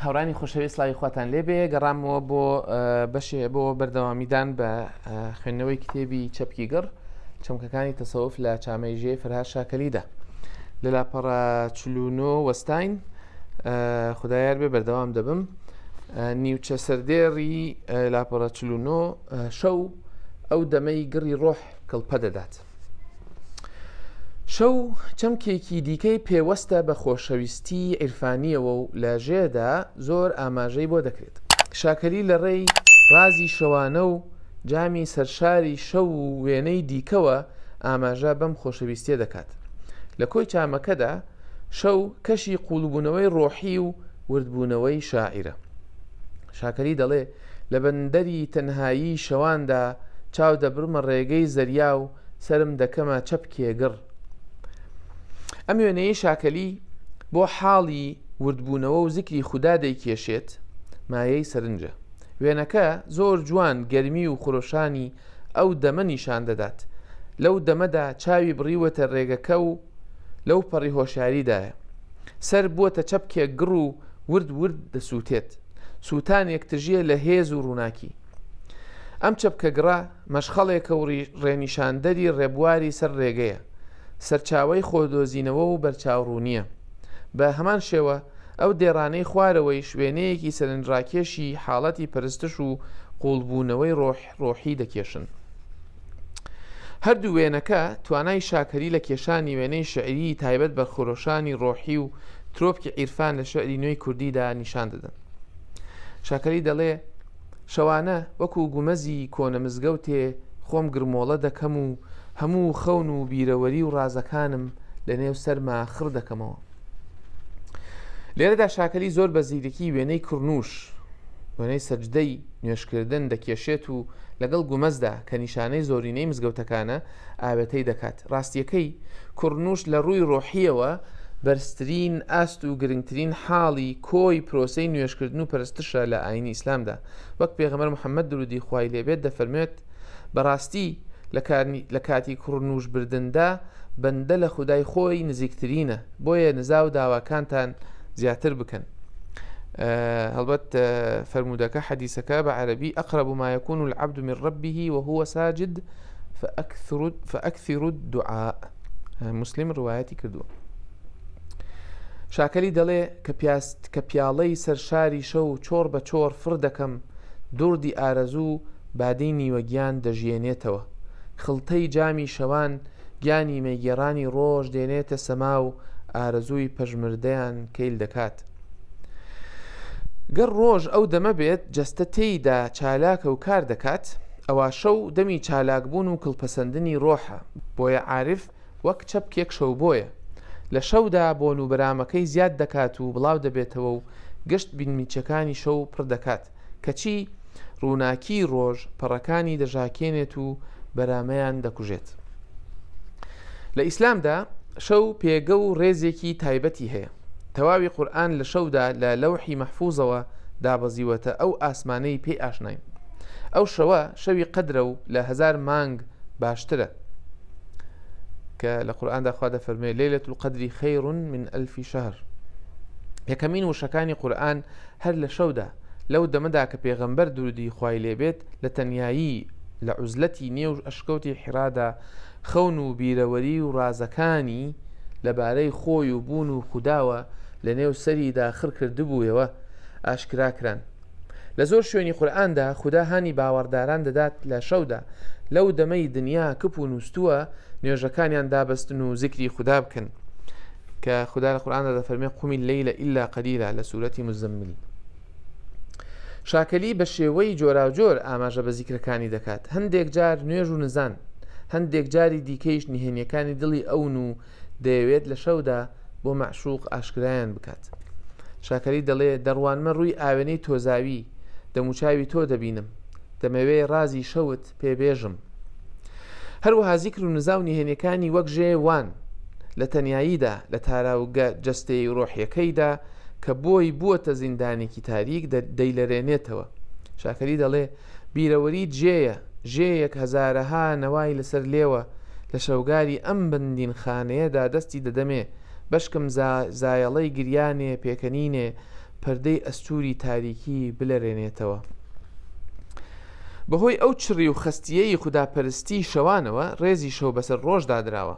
هاوڕانی خۆشەوی سلاوی خواتان لێ بێ گەڕامەوە بۆ بەشێ بۆ بەردەوامیدان بە خوێندنەوەی کتێبی چەپکی گەڕ چەمکەکانی تەسەوف لە چامەی ژێ فرها شاکەلیدا لە لاپەڕە چلونۆ وەستین خدایار بێ بەردەوام دەبم نیوچە سەردێڕی لاپەڕە چل و نۆ، شەو ئەو دەمەی گڕی ڕۆح کڵپە دەدات. شەو چەمکێکی دیکەی پێوەستە بە خۆشەویستی عیرفانیەوە و لە ژێدا زۆر ئاماژەی بۆ دەکرێت. شاکەلی لە ڕێی ڕازی شەوانە و جامی سەرشاری شەو و وێنەی دیکەوە ئاماژە بەم خۆشەویستیە دەکات. لە کۆی چامەکەدا شەو کەشی قووڵبوونەوەی ڕۆحی و وردبوونەوەی شاعیرە. شاکەلی دەڵێ، لە بەندەری تەنهایی شەواندا چاو دەبڕمە ڕێگەی زەریا و سەرم دەکەمە چەپکێ گڕ. ئەم وێنەیەی شاکەلی بۆ حاڵی وردبوونەوە و زیکری خودا دەیکێشێت، مایەی سەرنجە. وێنەکە زۆر جوان گەرمی و خرۆشانی ئەو دەمە نیشان دەدات. لەو دەمەدا چاوی بڕیوەتە ڕێگەکە و لەوپەڕی هۆشیاریدایە. سەر بووەتە چەپکێک گڕ و ورد ورد دەسووتێت، سووتانێک تژییە لە هێز و ڕووناکی. ئەم چەپکە گڕە، مەشخەڵێکە و ڕێنیشاندەری ڕێبواری سەر ڕێگەیە، سەرچاوەی خۆدۆزینەوە و بەرچاوڕوونییە. بە هەمان شێوە، ئەو دێڕانەی خوارەوەیش وێنەیەکی سەرنجڕاکێشی حاڵەتی پەرستش و قووڵبوونەوەی ڕۆح، ڕۆحی دەکێشن. هەردوو وێنەکە توانای شاکەری لە کێشانی وێنەی شعریی تایبەت بە خرۆشانی ڕۆحی و ترۆپکی عیرفان لە شعری نوێی کوردیدا نیشان دەدەن. شاکەری دەڵێ شەوانە وەکو گومەزی کۆنە مزگەوتێ خۆم گرمۆڵە دەکەم و هەموو خەون و بیرەوەری و ڕازەکانم لە نێو سەرما خڕ دەکەمەوە. لێرەدا شاکەلی زۆر بە زیرکی وێنەی کڕنوش وێنەی سەجدەی نوێشکردن دەکێشێت و لەگەڵ گومەزدا کە نیشانەی زۆرینەی مزگەوتەکانە ئاوێتەی دەکات ڕاستیەکەی کڕنوش لە ڕووی ڕۆحیەوە بەرزترین ئاست و گرنگترین حاڵی کۆی پرۆسی نوێشکردن و پەرستشە لە ئاینی ئیسلامدا وەک پێغەمەر محەممەد درودی خوای لێبێت دەفەرمێت بەڕاستی لە کاتی کوڕنووش بردندا بەندە لە خودای خۆی نزیکترینە بۆیە نزا و داواکانتان زیاتر بکەن هەڵبەت فەرموودەکە حەدیسەکە بە عەربی ئەقرب ما يكون العبد من ربه وهو ساجد فأكثر الدعاء مسلم ڕواەتی کردووە شاکەلی دەڵێ کە پیاست کە پیاڵەی سەر شاری شەو چۆڕ بە چۆڕ فڕ دەکەم دڕدی ئارەزوو بادەی نیوە گیان دەژیێنێتەوە خڵتەی جامی شەوان گیانی مەیگێڕانی ڕۆژ دێنێتە سەما و ئارەزووی پەژمردەیان کەیل دەکات گەر ڕۆژ ئەو دەمە بێت جەستە تێیدا چالاکە و کار دەکات ئەوا شەو دەمی چالاک بوون و کڵپەسەندنی ڕۆحە بۆیە عارف وەک چەپکێک شەوبۆیە لە شەودا بۆن و برامەکەی زیاد دەکات و بڵاو دەبێتەوە و گشت بینمیچەکانی شەو پڕ دەکات کەچی ڕووناکیی ڕۆژ پەڕەکانی دەژاکێنێت و برامەیان دەکوژێت. لە ئیسلامدا شەو پێگە و ڕێزێکی تایبەتی هەیە. تەواوی قورئان لە شەودا لە لەوحی مەحفوظەوە دابەزیوەتە ئەو ئاسمانەی پێی ئاشناین ئەو شەوە شەوی قەدرە و لە هزار مانگ باشترە کە لە قورآاندا خوا دەفەرمێ لەلە و قدری خەیڕون من ئەلفی شەهر یەکەمین وشەکانی قورآن هەر لە شەودا لەو دەمەدا کە پێغەمبەر درودی خوای لێبێت لە تەنیایی، لە عوزلەتی نێو ئەشکەوتی حیرادا خەون و بیرەوەری و ڕازەکانی لە بارەی خۆی و بوون و خوداوە لە نێو سەریدا خڕ کردبوویەوە ئاشکرا کران. لە زۆر شوێنی قورئاندا خودا هانی باوەڕداران دەدات لە شەودا لەو دەمەی دنیا کپ و نووستووە نوێژەکانیان دابەستن و زیکری خودا بکەن کە خودا لە قورئاندا دەفەرمێ قومی اللەیل الا قلیلا لە سورەتی مزمل. شاکەلی بە شێوەی جۆراوجۆر ئاماژە بە زیکرەکانی دەکات هەندێک جار نوێژ و نزان هەندێک جاری دیکەیش نهێنیەکانی دڵی ئەون و دەیەوێت لە شەودا بۆ مەعشوق ئاشکرایان بکات شاکەلی دەڵێ دەڕوانمە ڕووی ئاوێنەی تۆزاوی دەموچاوی تۆ دەبینم دەمەوێ ڕازی شەوت پێبێژم هەروەها زیکر و نزا و نهێنەکانی وەک ژێ وان لە تەناییدا لە تاراوگە جەستەی ڕۆحیەکەیدا کە بۆی بووەتە زیندانێکی تاریک، دەیلەرێنێتەوە. شاکەلی دەڵێ، بیرەوەری جێیە، جێیەک هەزارەها نەوای لەسەر لێوە، لە شەوگاری ئەم بندینخانەیەدا دەستی دەدەمێ، بەشکم زایەڵەی گریانێ پێکەنینێ، پەردەی ئەستووری تاریکی بلەرێنێتەوە. بەهۆی ئەو چڕی و خەستییەی خوداپەرستیی شەوانەوە، ڕێزی شەو بەسەر ڕۆژ دادراوە.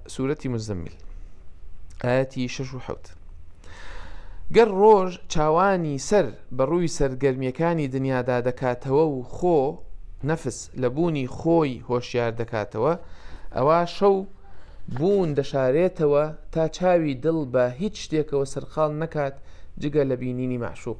سورەتی مزمل ئایەتی شەش و حەوت گەر ڕۆژ چاوانی سەر بە ڕووی سەرگەرمیەکانی دنیادا دەکاتەوە و خۆ نەفس لە بوونی خۆی هۆشیار دەکاتەوە ئەوە شەو بوون دەشارێتەوە تا چاوی دڵ بە هیچ شتێکەوە سەرقال نەکات جگە لە بینینی مەعشوق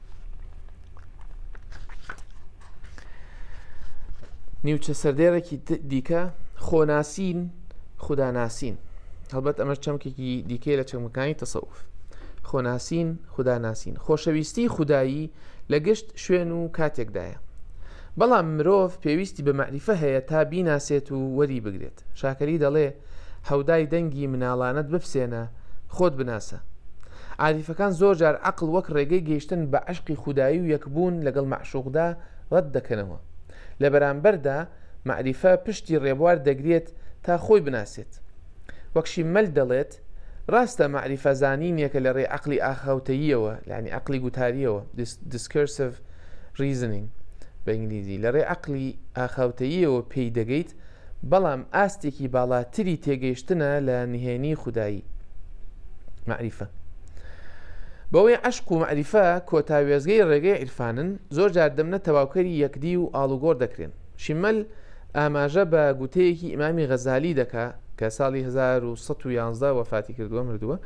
نیوچە سەردێڕێکی دیکە خۆناسین خوداناسین هەڵبەت ئەمە چەمکێکی دیکەی لە چەمەکانی تەسەوف خۆناسین خوداناسین خۆشەویستی خودایی لە گشت شوێن و کاتێکدایە بەڵام مرۆڤ پێویستی بە مەعریفە هەیە تا بیناسێت و وەری بگرێت. شاکەری دەڵێ، حەودای دەنگی مناڵانەت بپسێنە، خۆت بناسە. عاریفەکان زۆر جار عەقڵ وەک ڕێگەی گەیشتن بە عەشقی خودایی و یەکبوون لەگەڵ مەعشووقدا ڕەت دەکەنەوە. لە بەرامبەردا مەعریفە پشتی ڕێبوار دەگرێت تا خۆی بناسێت. وەک شیممەل دەڵێت. دەکات. ڕاستە مەعریفە زانینێکە لە ڕێی عەقڵی ئاخاوتەییەوە، یانی عەقڵی گوتارییەوە، Discursive Reasoning بە ئینگلیزی، لە ڕێی عەقڵی ئاخاوتەییەوە پێی دەگەیت، بەڵام ئاستێکی باڵاتری تێگەیشتنە لە نهێنیی خودایی. مەعریفە. بەوەی عەشق و مەعریفە کۆتا وێستگەی ڕێگەی عیرفانن، زۆر جار دەمنە تەواوکەری یەکدی و ئاڵوگۆڕ دەکرێن. شیمەل ئاماژە بە گوتەیەکی ئیمامی غەزالی دەکا کە ساڵی 1911 وەفاتی کردووە مردووە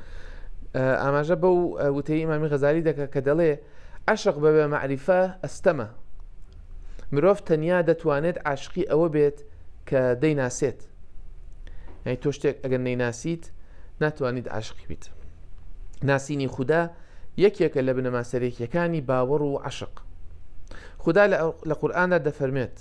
ئاماژە بەو وتەی ئیمامی غەزالی دەکە کە دەڵێ عشق بە بە معریفە ئەستەمە مرۆڤ تەنیا دەتوانێت عاشقی ئەوە بێت کە دەیناسێت یعنی تۆ شتێک ئەگەر نەیناسیت ناتوانیت عاشقی بیت ناسینی خوددا یەکێکە لە بنەما سەرێکیەکانی باوەڕ و عشق خدا لە قورآاندا دەفەرمێت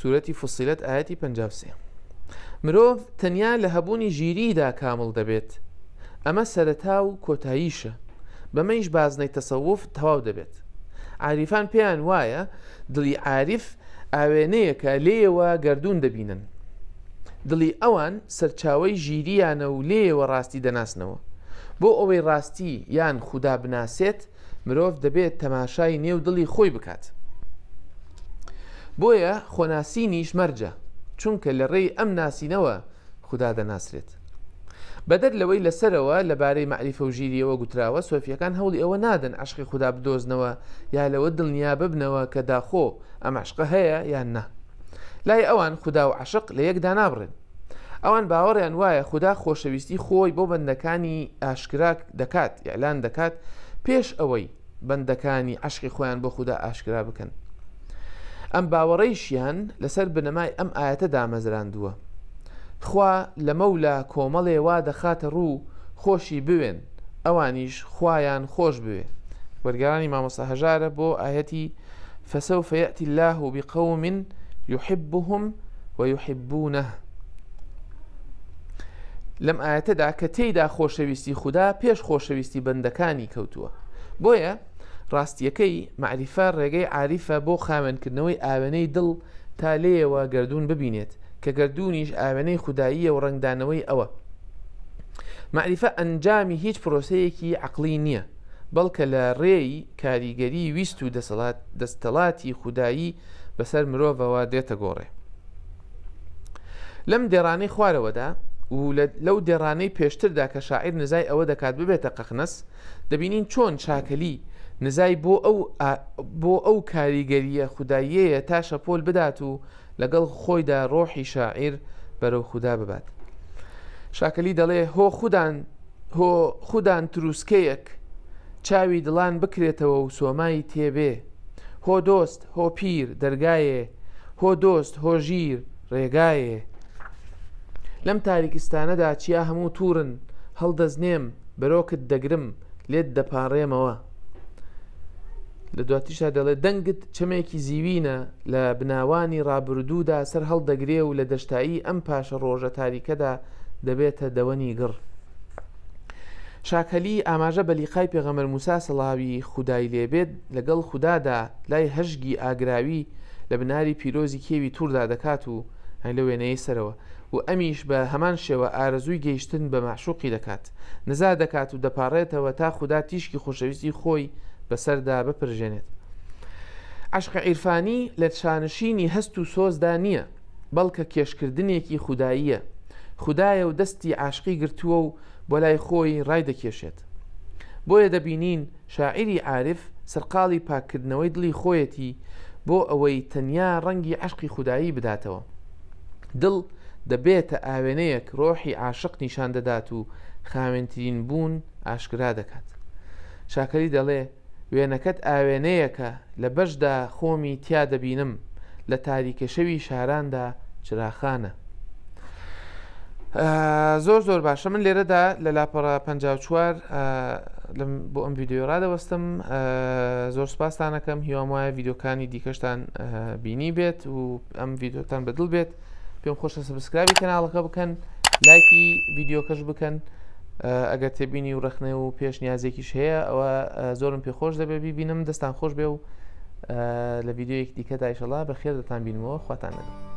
سوورەتی فسیلەت ئاەتی 53 مرۆڤ تەنیا لە هەبوونی ژیریدا کامل دەبێت ئەمە سەرەتا و کۆتاییشە بەمەیش بازنەی تەسەوف تەواو دەبێت عریفان پێیان وایە دڵی عاریف ئاوێنەیەکە لێەوە گردردون دەبینن دڵی ئەوان سەرچاوی ژیریانە و لێەوە ڕاستی دەناسنەوە بۆ ئەوەی ڕاستی یان خوددا بناسێت مرۆڤ دەبێت تەماشای نێو دڵی خۆی بکات بۆیە خۆناسینیش مەرجە چونکە لە ڕێی ئەم ناسینەوە خوددا دەناسرێت بەدەر لەوەی لەسەرەوە لەبارەی مەعریفە و ژیریەوە گوتراوە سۆفیەکان هەوڵی ئەوە نادەن عشقی خوددا بدۆزنەوە یا لەوە دڵنیا ببنەوە کە داخۆ ئەم عشقە هەیە یان نا لای ئەوان خوددا و عشق لە یەکدا نابڕێن ئەوان باوەڕیان وایە خودا خۆشەویستی خۆی بۆ بەندەکانی ئاشکرا دەکات ئیعلان دەکات پێش ئەوەی بەندەکانی عشقی خۆیان بۆ خودا ئاشکرا بکەن ئەم باوەڕیشیان لەسەر بنەمای ئەم ئاەتە دامەزراندووە خوا لەمەولا کۆمەڵێ وا دەخاتە ڕوو خۆشی بوێن ئەوانیش خوایان خۆش بوێ وەرگرانی مامۆسا هەژارە بۆ ئاەتی فسوف یاتی الله بقوم یحبهم ویحبونه لەم ئاەتەدا کە تێیدا خۆشەویستی خوددا پێش خۆشەویستی بەندەکانی کەوتووە بۆیە ڕاستیەکەی معریفە ڕێگەی عریفە بۆ خاوێنکردنەوەی ئاوێنەی دڵ تا لێەوە گردردون ببینێت کە گردردونیش ئاوێنەی خودداییە و ڕنگدانەوەی ئەوە معریفە ئەنجامی هیچ پرۆسەیەکی عقلی نییە بەڵکە لە ڕێی کاریگەری ویست و دەستەڵاتی خودایی بەسەر مرۆڤەوە دێتە گۆڕێ. لەم دێڕانەی خوارەوەدا و لەو دێڕانەی پێشتردا کە شاعیر نزای ئەوە دەکات ببێتە قەخنەس دەبینین چۆن چاکەلی نزای بۆ ئەو بۆ ئەو کاریگەریە خوددایەیە تا شەپۆل بدات و لەگەڵ خۆیدا ڕۆحی شاعیر بەرەو خودا ببات. شاکەلی دەڵێ هۆ خودان هۆ خودان تروسکەیەک چاوی دڵان بکرێتەوە و سۆمای تێبێ، هۆ دۆست هۆ پیر دەرگایێ، هۆ دۆست هۆ ژیر ڕێگایێ. لەم تاریکستانەدا چیا هەموو تووڕن، هەڵدەزنێم برۆکت دەگرم، لێت دەپارێمەوە لە دواتیشا دەڵێ دەنگت چەمێکی زیوینە لە بناوانی ڕابردوودا سەر هەڵدەگرێ و لە دەشتایی ئەم پاشە ڕۆژە تاریکەدا دەبێتە دەوەنی گڕ شاکەلی ئاماژە بە لیقای پێغەمەر موسا سەڵاوی خودای لێبێت لەگەڵ خوددادا لای هەژگی ئاگراوی لە بناری پیرۆزی کێوی تووردا دەکات و لە وێنەیە سەرەوە و ئەمیش بە هەمان شێوە ئارەزووی گەیشتن بە مەعشوقی دەکات، نزا دەکات و دەپاڕێتەوە تا خودا تیشکی خۆشەویستی خۆی بەسەردا بپرژێنێت. عەشق عیرفانی لە شانشینی هەست و سۆزدا نییە، بەڵکە کێشکردنێکی خوداییە، خودایە و دەستی عاشقی گرتووە و بۆ لای خۆی ڕایدەکێشێت. بۆیە دەبینین شاعیری عارف سەرقاڵی پاککردنەوەی دڵی خۆیەتی بۆ ئەوەی تەنیا ڕەنگی عەشقی خودایی بداتەوە. دڵ دەبێتە ئاوێنەیەک ڕۆحی عاشق نیشان دەدات و خاوێنترین بوون ئاشکرا دەکات. شاکەلی دەڵێ، وێنەکەت ئاوێنەیەکە لە بەشدا خۆمی تیا دەبینم، لە تاریکەشەوی شاراندا چراخانە. زۆر زۆر باشە من لێرەدا لە لاپەڕە 54 لەم بۆ ئەم ویددیو ڕادەوەستم زۆر سپاسانەکەم هیوام وایە یددیوکانی دیکەشتان بینی بێت و ئەم یددیوتان بەدڵ بێت پێم خۆشە سبسکراوی کەناڵەکە بکەن لایکی یددیوکەش بکەن ئەگەر تێبینی و ڕخنە و پێشنیازێکیش هەیە ئەوە زۆرم پێ خۆش دەبێ ببینم دەستان خۆش بێ و لە ڤیدیۆیەکی دیکەدا ئیشەڵا بە خێر دەتان بینمەوە خواتان لەگەڵ